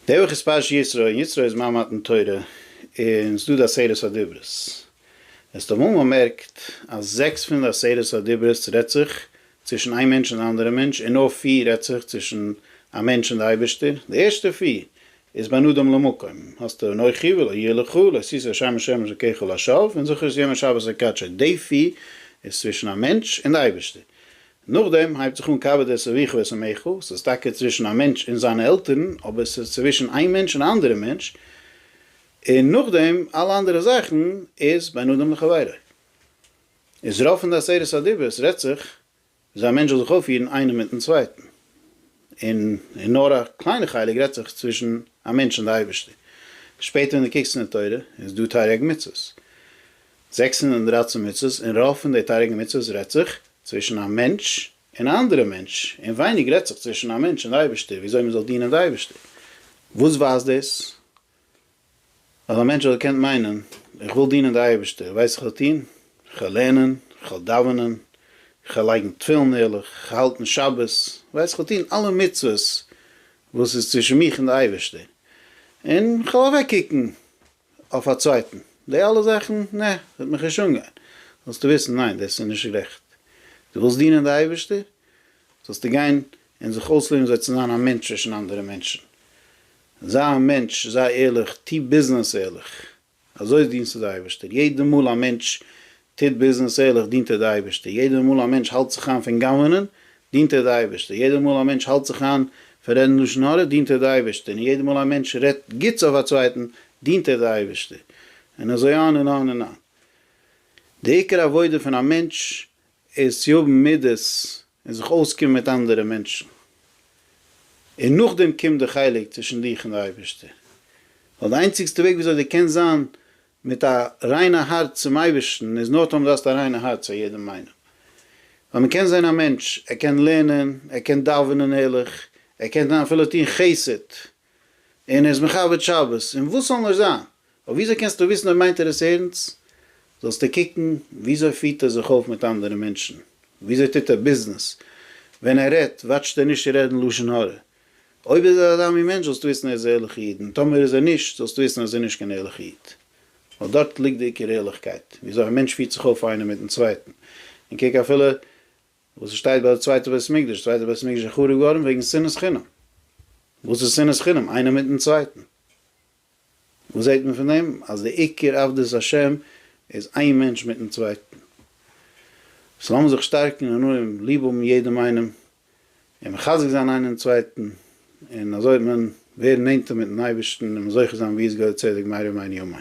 די וואך איז פרשת יתרו, און יתרו איז מיין מתן תורה, און ס'איז דא די עשרת הדיברות. עס האט אמאל באמערקט אז זעקס פון די עשרת הדיברות רעדט זיך צווישן איין מענטש און א אנדערע מענטש, און נאר פיר רעדט זיך צווישן א מענטש און די אייבערשטער. די ערשטע פיר איז בין אדם למקום, האסטו אנכי ולא יהיה לך, לא עשית השם השם אלקיך לשווא, און זכור את יום השבת לקדשו. די פיר איז צווישן א מענטש און די אייבערשטער. נאכדעם הייבט זיך אן קאווע דער סביכא את עמיך, ס'איז טאקע צווישן א מענטש און זיינע עלטערן, אבער ס'איז צווישן איין מענטש און א אנדערע מענטש, און נאכדעם אלע אנדערע זאכן איז בין אדם לחבירו. איז רוב פון די עשרת הדיברות רעדט זיך וויאזוי א מענטש זאל זיך אויפפירן איינער מיטן צווייטן, און און נאר א קליינע חלק רעדט זיך צווישן א מענטש און די אייבערשטער. שפעטער ווען די קוקסט אין די תורה איז דא תריג מצוות, זעקס הונדערט און דרײַצן מצוות, און רוב פון די תריגן מצוות רעדט זיך צווישן א מענטש און א אנדערע מענטש, און ווייניג רעדט זיך צווישן א מענטש און די אייבערשטער ווי אזוי מען זאל דינען די אייבערשטער. וואס ווייזט דאס? אז א מענטש האט געקענט מיינען, איך וויל דינען די אייבערשטער, ווייסט איך וועל טון? איך וועל לערנען, איך וועל דאווענען, איך וועל לייגן תפילין ערליך, איך וועל האלטן שבת, ווייסט איך וועל טון אלע מצוות וואס איז צווישן מיך און די אייבערשטער, און איך וועל אוועק קוקן אויף א צווייטן, די אלע זאכן, נע, וועט מיך נישט אנגיין, זאלסטו וויסן, ניין, דאס איז נישט גערעכט, דו ווילסט דינען די אייבערשטער, זאלסטו גיין און זיך אויסלערנען זיי צו זיין א מענטש צווישן אנדערע מענטשן, זיי א מענטש, זיי ערליך, טו ביזנעס ערליך, אזוי דינסטו די אייבערשטער, יעדע מאל א מענטש טוט ביזנעס ערליך דינט ער די אייבערשטער, יעדער מאל א מענטש האלט זיך איין פון גנב'נען דינט ער די אייבערשטער, יעדער מאל א מענטש האלט זיך איין פון רעדן לשון הרע דינט ער די אייבערשטער, און יעדער מאל א מענטש רעדט גוטס אויף א צווייטן דינט ער די אייבערשטער, און אזוי אן און אן און אן. די עיקר עבודה פון א מענטש איז צו האבן מידות און זיך אויסקומען מיט אנדערע מענטשן, און נאכדעם קומט די חלק צווישן דיך און די אייבערשטער, ווייל די איינציגסטע וועג וויאזוי די קענסט זיין מיט א ריינע הארץ צום אייבערשטן איז נאר טאמער די האסט א ריינע הארץ פאר יעדעם איינעם, ווייל מען קען זען א מענטש ער קען לערנען, ער קען דאווענען ערליך, ער קען זיין אפילו טון חסד, און ער איז מכבד שבת, און וואס זאל נאר זיין? אבער וויאזוי קענסטו וויסן אויב מיינט ער עס ערנסט? זאלסטו קוקן וויאזוי פירט ער זיך אויף מיט אנדערע מענטשן, וויאזוי טוט ער ביזנעס, ווען ער רעדט וואטשט ער נישט צו רעדן לשון הרע. אויב איז ער אזא מין מענטש זאלסטו וויסן ער איז א ערליכע איד, און טאמער איז ער נישט זאלסטו וויסן אז ער איז נישט קיין ערליכע איד. ווייל דארט ליגט די עיקר ערליכקייט, וויאזוי א מענטש פירט זיך אויף איינער מיטן צווייטן, און קוק אפילו וואס עס שטייט ביי די צווייטע בית המקדש, די צווייטע בית המקדש איז חרוב געווארן וועגן שנאת חינם. וואס איז שנאת חינם? איינער מיטן צווייטן. וואס זעט מען פון דעם? אז די עיקר עבדות השם איז איין מענטש מיטן צווייטן. סאו לאמיר זיך שטארקן און אנהויבן ליב האבן יעדעם איינעם, און מחזק זיין איינעם צווייטן, און אזוי וועט מען ווערן נענטער מיטן אייבערשטן און זוכה זיין ביז גואל צדק מהרה ימינו אמן.